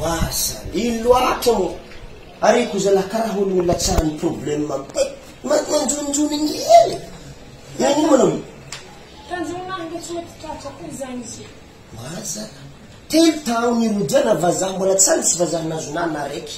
Oaza i loatra ô! Ary ko zalahy karaha olo olona tsara ny problème mandeha ma- manjonjony ny ely. Nanomana mo? Tanjona marina tsy mety tratra koa izany izy io. Oaza. Telo taona irodiana vazaha mbola tsy any sy vazaha nahazo nana araiky.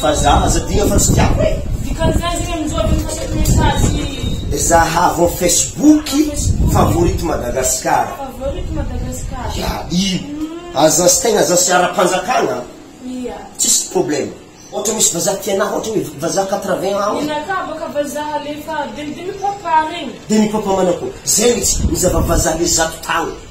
Vazaha aza dia fa tsy tiako e! Dikan'izany zegny amin'izao aleo mipasoka message. Zahavo facebook favorite Madagascar. Favorite Madagascar. Ya i aza sy tegna aza sy ara-panjakagna Ia. tsisy problème. Ohatra misy vazaha tia anah ohatra hoe vazaha quatre vingt ans. Ninakà baka vazaha alefa demi demi papa regny. Demi papa manako zegny izy, ny zava-vazaha le zato tagny.